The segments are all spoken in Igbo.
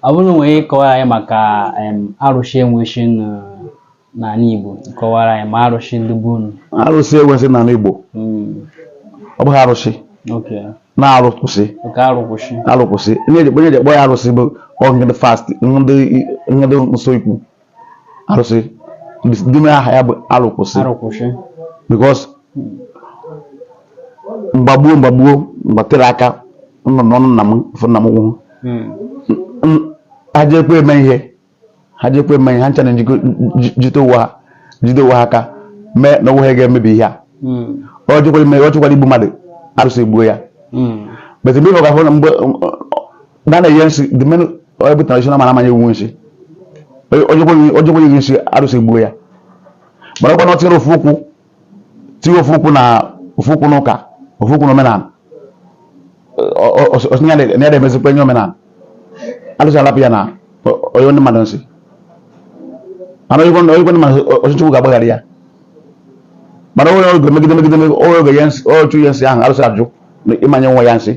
ọ bụrụ nwere ike kọwara anyị maka arụsị enwechi n'ala Igbo kọwara anyị ma arụsị ndị bụ unu arụsị enwechi n'ala Igbo hmm. ọ bụghị arụsị na-arụkwụsị arụkwụsị ihe e ji kpọ ya arụsị bụ ndị fast ndị nso ikwu arụsị the main aha ya bụ arụkwụsị arụkwụsị because mgbe gboo mgbe gboo mgbe tere aka nọ n'ọnụ nna m fụ nna m nụrụ hmm. ha jekwa eme ihe ha jekwa eme ihe ha ncha na jide onwe ha jide onwe ha aka mee na onwe ha ga-emebi ihe a hmm. o jekwara igbu mmadụ arụsị egbuo ya hmm. but mgbe ọ ga-ahụ na mgbe na na-enye nsị the main onye bụ traditional man amaghị enye nsị o jekwa inye gị nsị arụsị egbuo ya mana ọ kwa na o tinyere ofu ụkwụ tinye ofu ụkwụ na ofu ụkwụ n'ụka ofu ụkwụ n'omenala ọ sị na ya na-ede emezikwa ihe omenala arụsị alapụ ya na o nye ndị mmadụ nsị mana o nye ndị mmadụ ọchịchị ụka agbaghara ya mana onye oge megide megide onye oge ya nsị ọchụ ya nsị ahụ arụsị ajụ ị ma-enye nwa ya nsị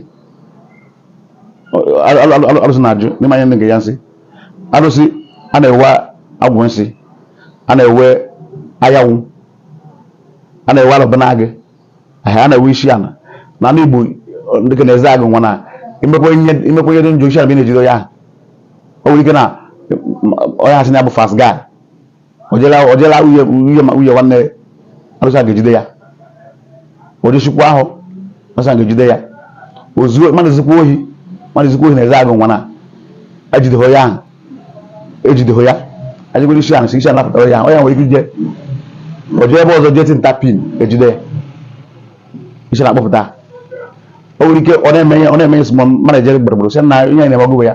arụsị na-ajụ na ị ma-enye ndị nke ya nsị arụsị a na-ewe agwụ nsị a na-ewe ayawụ a na-ewe alụba na agị a na-ewe isi ana na ndị Igbo dị ka n'Ezeagụ nwa na i mekwa ihe dị njọ isi ana bụ ihe na-ejido ya o nwere ike na onye asị na ya bụ fast guy o je la uye uye nwanne arụsị a ga-ejide ya o je Chicago arụsị a ga-ejide ya o zuo mmadụ zikwa ohi mmadụ zikwa ohi n'Ezeagụ nwa na ejideho ya ahụ ejideho ya ajigoro isi ana si isi ana pụtara ya ahụ onye nwere ike ije o jee ebe ọzọ jee tụta pin ejide ya isi ana akpọpụta o nwere ike ọ na-eme ya ọ na-eme ya sị mmadụ ejere gburugburu sị na ihe na-eme ọgụgụ ya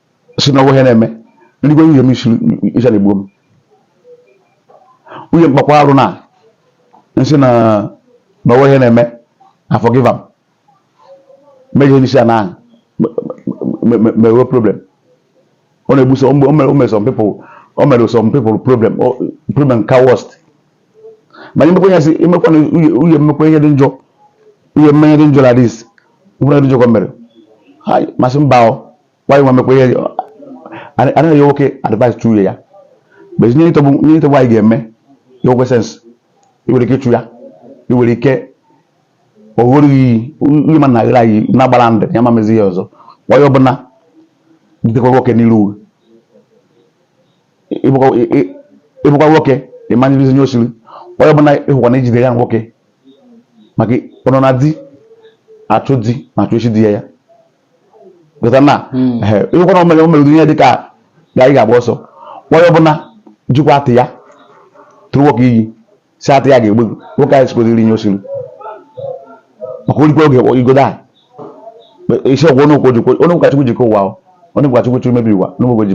sị na ọ wụ ihe na-eme eluigwe uye m isi isi ana egbuo m nwunye m kpakwa arụ na m sị na na ọ wụ ihe na-eme a forgive m meghị ihe isi ana mewe problem ọ na-egbu so o mere some people o mere some people problem problem ka worst ma imekwa ihe si imekwa na uye m mekwa ihe dị njọ uye m mee ihe dị njọ na dis nwere dị njọ ka mere m asị mba o nwaanyị nwa mekwa ihe anaghị enye nwoke advice chụ ya bezi nye ịtọgbu nye ịtọgbu anyị ga-eme ya o nwee sense ị nwere ike ịchụ ya ị nwere ike ọ ṅụọrọ gị iyi ihe ma na aghara anyị na-agbara ndụ ya ma mezi ya ọzọ nwaanyị ọbụla butekwa nwoke n'iru uwe ị bụkwa nwoke ị ma-eribizi ihe o siri onye ọbụla ị hụkwa na i jide ya nwoke maka ọ nọ na di achọ di na-achọ isi di ya ya na hmm. ịhụkwana o mere o mere ihe dị ka ga anyị ga-agba ọsọ onye ọbụla jikwa atị ya tụrụ nwoke iyi sị atị ya ga-egbu nwoke anyị sikweziri inye osiri maka orikwa oge igodo a isi ọgwụ onye ụka jikwa onye ụka chukwu jikọ ụwa onye ụka chukwu chukwu mebi ụwa onye ụka ji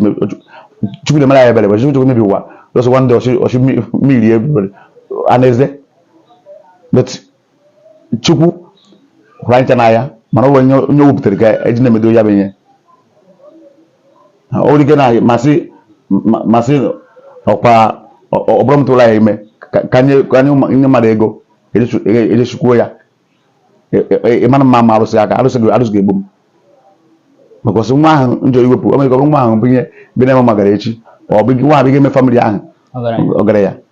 chukwu na-emere ya ebere chukwu chukwu mebi ụwa lọsọkwa ndị oshimmiri ebere anaeze chukwu hụrụ anyị n'anya mana ọ bụ onye onye wepụtara ka eji na-emedo ya bụ ihe o nwere ike na masị masị ọkwa ọbụrụ m tụrụ ya ime ka nye mmadụ ego ejechikwuo e, e, ya e, ịmara mma ma arụsị aka arụsị gị arụsị ga-egbu m because nwa ahụ njọ iwepụ o nwere ike ọ bụrụ nwa ahụ bụ ihe bi na-eme magara echi ọ bụ nwa ahụ ga-eme family ahụ ọgaranya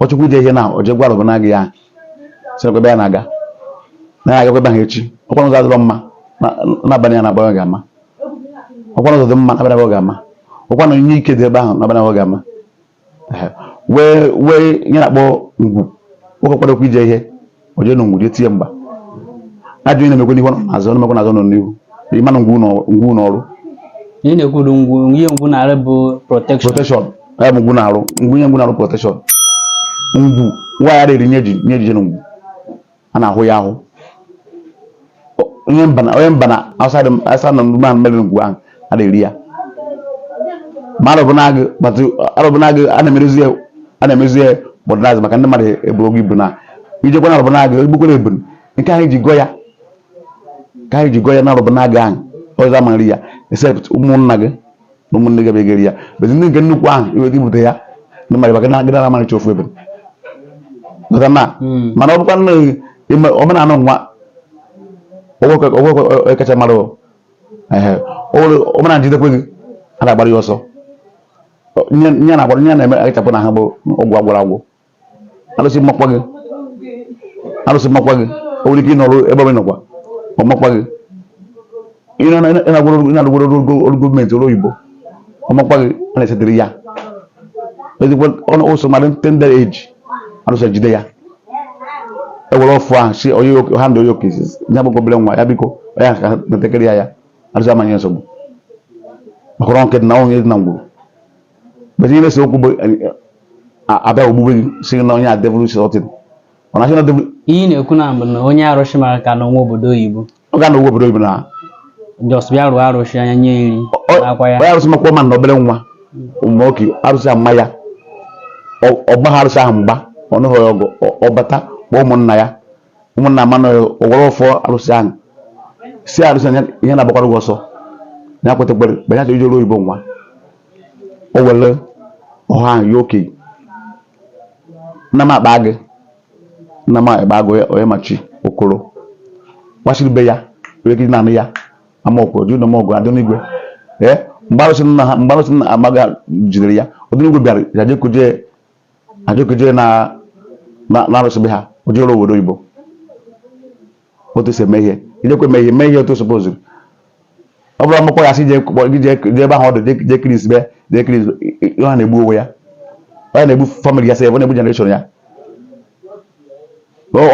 ọ chọkwa ije ihe na o je gwa arọbụnagụ ya sịkwa ebe ya na-aga na ya agakwa ebe ahụ echi ọkwa na ụzọ adịrọ mma na- n'abalị ya na-agba ga-ama ọkwa na ụzọ dị mma n'abalị agba ga-ama ọkwa na onye ike dị ebe ahụ n'abalị agba ga-ama Ehe. wee wee ihe na-akpọ ngwu nwoke kwadokwa ije ihe o je na ngwu je tie mgba ajọ ihe na-emekwa n'ihu ọ nọ n'azụ ọ na-emekwa n'azụ ọ nọ n'ihu ị ma na ngwu n'ọ- ngwu n'ọrụ ihe na-ekwuru ngwu ihe ngwu na-arụ bụ protection protection ya bụ ngwu na-arụ ngwu nye ngwu na-arụ protection ngwu nwaanyị ara eri nye ji nye ji je na ngwu a na-ahụ ya ahụ onye mba na onye mba na outside outside na ndị man mebe ngwu ahụ a na-eri ya ma arọbụnagụ kpatụ arọbụnagụ a na-emerezi ya a na-emezi ya modernize maka ndị mmadụ ebu oge ibu na ijekwa na arọbụnagụ egbukwere ebunu nke anyị ji gọọ ya ka anyị ji gọọ ya na arọbụnagụ ahụ ọzọ ama eri ya except ụmụnna gị na ụmụnne gị be ga-eri ya bezi ndị nke nnukwu ahụ iwe gị bute ya ndị mmadụ maka na gịnị na-amarịcha ofu ebe maka na Mm. mana ọ bụkwa nne gị ime omenala nwa ọgwụkwe kacha mara o. Ehe. O nwere- omenala jidekwe gị a na-agbara ya ọsọ Ọ- nye nye a na-agbara nye a na-eme akachapụ na ha bụ ọgwụ agwọrọ agwọ alụsị makwa gị alụsị makwa gị o nwere ike ịnọrụ ebe ọbụla nọkwa ọ makwa gị ị na-agara ọrụ gọọmenti ọrụ oyibo ọ makwa gị a na-esetịrị ya ezigbo ọnụ ụsọ mara na tender age alụsị jide ya ewere ọfọ ahụ si onye ha ndị onye okesi ya bụ obere nwa ya biko onye ka na-etekere ya ya alụsị amanye nsogbu maka ọrụ nke dị na ọnwụ dị na ngwuru But ihe na-ese okwu bụ abịa ogbugbe gị si na onye a devil shọtin ọ na-achị na devil ihe ị na-ekwu na mbụ na onye arụsị mara ka nọ n'obodo oyibo ọ ga na obodo oyibo na just bịa rụọ arụsị anya nye nri akwa ya onye arụsị makwa ma na obere nwa ụmụ oke arụsị ahụ ma ya ọ gbaha arụsị ahụ mgba ọ nụghị ọgụ ọ bata kpọọ ụmụnna ya ụmụnna ama na ọ wara ọfọ arụsị ahụ sị arụsị anya ihe na-agbakwara gị ọsọ ya kwetekwere mgbe ya chọrọ ije ọrụ oyibo nwa o were ọha ahụ ya okenye nna m akpa gị nna m akpa gị onye- onye machi okoro gbachiri be ya wee kiri naanị ya ama okoro dị ụlọm ọgụ adị n'igwe ee mgbe arụsị nna ha mgbe arụsị nna amaga jidere ya ọdịnigwe bịara ya jekuje ejekuje na arụsị be ha o jere obodo oyibo otu si eme ihe ijekwa eme ihe mee ihe otu supoziri ọ bụrụ akwụkwọ ya si jee ebe ahụ ọdụ jee kiri isibe jee kiri ọ na-egbu onwe ya ọ ya na-egbu family ya sef ọ na-egbu generation ya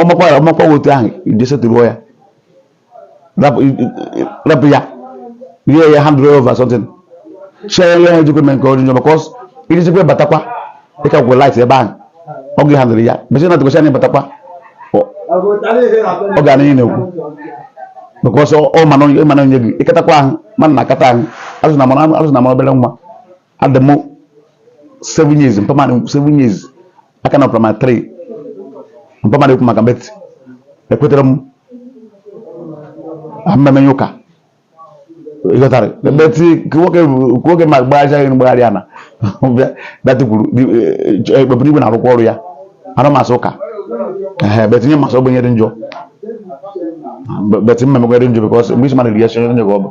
ọmakwa ọmakwa otu ahụ je setụruo ya rapụ ya rie ya hand over something share ya ha ejikwa eme nke onyinyo because ijizikwa batakwa ịkakwụ light ebe ahụ ọ gị handle ya bụchi na tụkwasị anya batakwa ọ ga n'ihe na-ekwu because ọ mana onye gị ịkatakwa ahụ mana na akata ahụ azụ na mara obere nwa adị m seven years mpa m adị seven years aka na primary three mpa m adị ekwu maka but ekwetara m mmemme ụka ịghọtara but nwoke ma gbagharịchaghị mgbagharị ana that kwuru ekpebiri igwe na-arụkwa ọrụ ya anụ masị ụka ee but nye masị ogbenye dị njọ but mmemme dị njọ because mgbe isi mmadụ ri ya si onye gị ọ bụ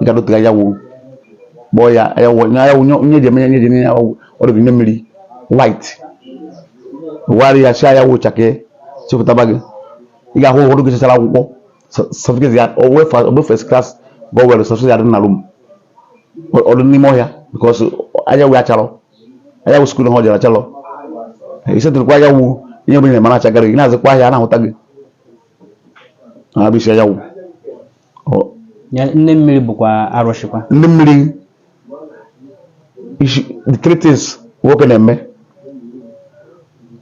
ị ga-adote anyanwụ kpọọ ya anyanwụ na anyanwụ nye- nye ji eme ya nye ji eme anyanwụ ọ dịghị nye mmiri white wụgharị ya sị anyanwụ chakee chepụtaba gị ị ga-ahụ ụfọdụ gụchachara akwụkwọ certificate ya o nwee fa- o nwee first class bụ o were certificate ya dị na room ọ dị n'ime ọhịa because anyanwụ ya acharọ anyanwụ skuul ha ọ jere acharọ i setụrụkwa anyanwụ ihe ọbụla ị na-eme na-achagara gị na-azụkwa ahịa a na-ahụta gị na-abịa isi anyanwụ nne mmiri bụkwa arụsịkwa ndị mmiri the three things nwoke na-eme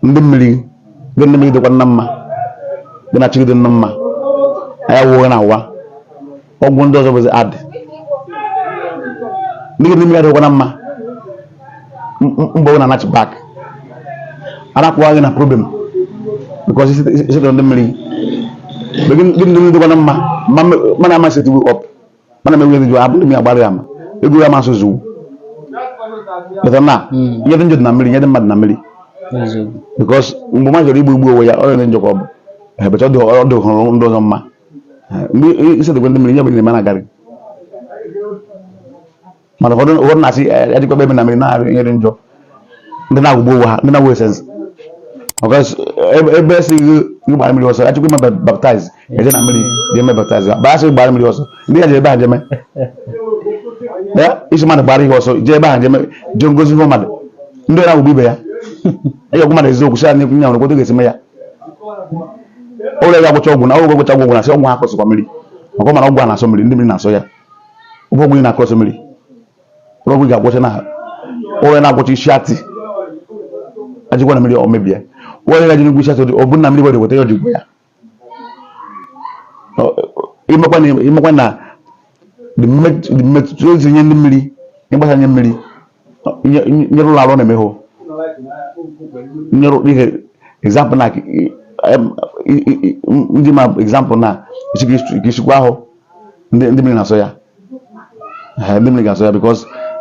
ndị mmiri gị na mmiri dịkwa na mma gị na chi gị dị na mma anyanwụ gị na-awa ọgwụ ndị ọzọ bụzi adị ndị mmiri adịkwa na mma mgbe ọ na-anachi back arapụwa gị na problem because i setụrụ ndị mmiri gị ndị dịkwa na mma mana ama setiwe up mana mewe ndị jụ abụrụ m ya gbara ya ma ego ya masị zuwu later na ihe dị njọ dị na mmiri ihe dị mma dị na mmiri because mgbe mmadụ chọrọ igbu igbu onwe ya ọrịa dị njọ ka ọ bụ ebecha ọ dị hụrụ ndị ọzọ mma mgbe i setụkwa ndị mmiri ihe bụ na-eme na-agarị mana ụfọdụ ụfọdụ na-asị adịkwa ebe na mmiri na-arụ ihe dị njọ ndị na-agwọgbu onwe ha ndị na-agwọ esensi ebe a sị gị gbara mmiri ọsọ a chọkwa ime baptaiz eje na mmiri je eme baptaiz ebe a sị gbara mmiri ọsọ ndị ya je ebe ha jeme ị sị mmadụ gbara ihe ọsọ jee ebe ha jeme jee ngozi ihe mmadụ ndị na-agwọgbu ibe ya ị ga-agwa mmadụ eziokwu sị ya n'ekwu nya nwere kwoto ga-esi me ya ụlọ ya gwọcha ọgwụ na ọgwụ gwọcha ọgwụ na sị ọgwụ ha kwụsịkwa mmiri maka ọ mara ọgwụ a na-asọ mmiri ndị mmiri na-asọ ya ọ bụ ọgwụ ị na-akọsị mmiri ọ bụ ọgwụ ị ga-agwọcha na onye na-agwọcha isi atị ajikwa na mmiri ọ mebie onye ga-eji n'ugwu isi atị ọ bụ na mmiri were weta ya ọdịgbo ya imekwa na mmetụta ozi nye ndị mmiri ịgbasa nye mmiri nyere ụlọ arụ na-eme hụ nyere ihe example na ndị ma example na isikwa ahụ ndị mmiri na-asọ ya ndị mmiri ga-asọ ya because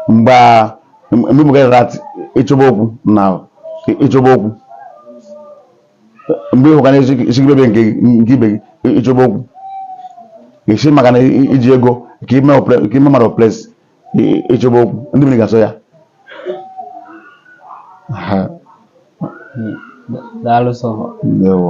mgbe mgbe mgbe gara ịchọba okwu na ịchọba okwu mgbe ị hụka na esigibebe nke ibe gị ị chọba okwu ị sị maka na i ji ego ka ime mmadụ place ị chọba okwu ndị mmiri ga-asọ ya daalụ sọ ndewo